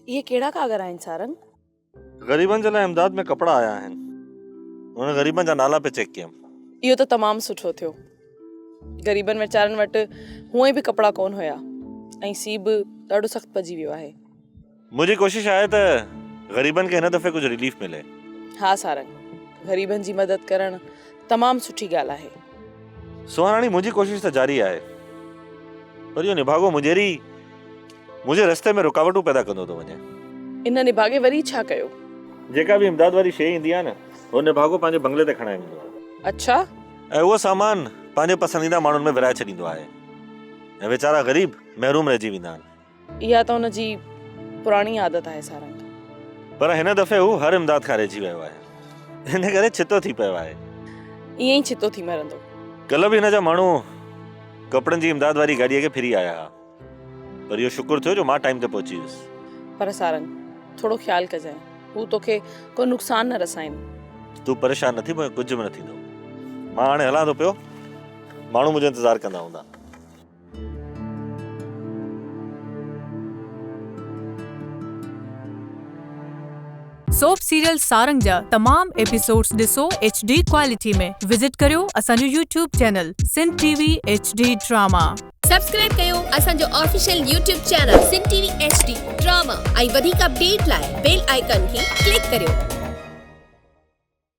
اهي ڪهڙا ڪاڳر آهن سارنگ؟ غريبن جي لاء امداد ۾ ڪپڙا آيا آهن انهن غريبن جا نالا پئي چيڪ ڪيم. اهو ته تمام سٺو ٿيو غريبن ويچارن وٽ هونئن به ڪپڙا ڪون هيا ۽ سي به ڏاڍو سخت پئجي ويو آهي. منهنجي ڪوشش آهي ته غريبن کي هن دفعي ڪجهه ريليف ملي. ها سارنگ، غريبن جي مدد ڪرڻ تمام سٺي ڳالهه آهي. سونهاراڻي، منهنجي ڪوشش ته جاري آهي پر اهو نڀاڳو مونجهيري منهنجي رستي ۾ رڪاوٽون پيدا ڪندو ٿو وڃي. ان نڀاڳي وري ڇا ڪيو؟ جيڪا به امداد واري شيء ايندي آهي نه اهو نڀاڳو پنهنجي بنگلي تي کڻائي ويندو آهي. اڇا! ۽ اهو سامان پنهنجي پسنديده ماڻهن ۾ ورهائي ڇڏيندو آهي ۽ ويچارا غريب محروم رهجي ويندا آهن. اها ته هن جي پراڻي عادت آهي سارنگ. پر هن دفعي هو هر امداد کان رهجي ويو آهي. ان ڪري ڇتو ٿي پيو آهي. ائين ئي ڇتو ٿي مرندو. ڪلهه به هن جا ماڻهو ڪپڙن جي امداد واري گاڏيء کي ڦري آيا ها. پر اهو شڪر ٿيو جو مان ٽائيم تي پهچي ويس. پر سارنگ ٿورو خيال ڪجانء. هو توکي ڪو نقصان نه رسائين. تون پريشان نه ٿي مون کي ڪجهه به نه ٿيندو. مان هاڻي هلان ٿو پيو. ماڻهو منهنجو انتظار ڪندا هوندا. سوپ سيريل سارنگ جا تمام ايپيسوڊز ڏسو ايڇ ڊي ڪوالٽي ۾ وزٽ ڪريو اسان جو YouTube channel Sindh T V H D drama. Subscribe ڪيو اسان جو official YouTube channel Sindh T V H D drama ۽ وڌيڪ اپڊيٽ لاء بيل آئيڪان کي ڪلڪ ڪريو.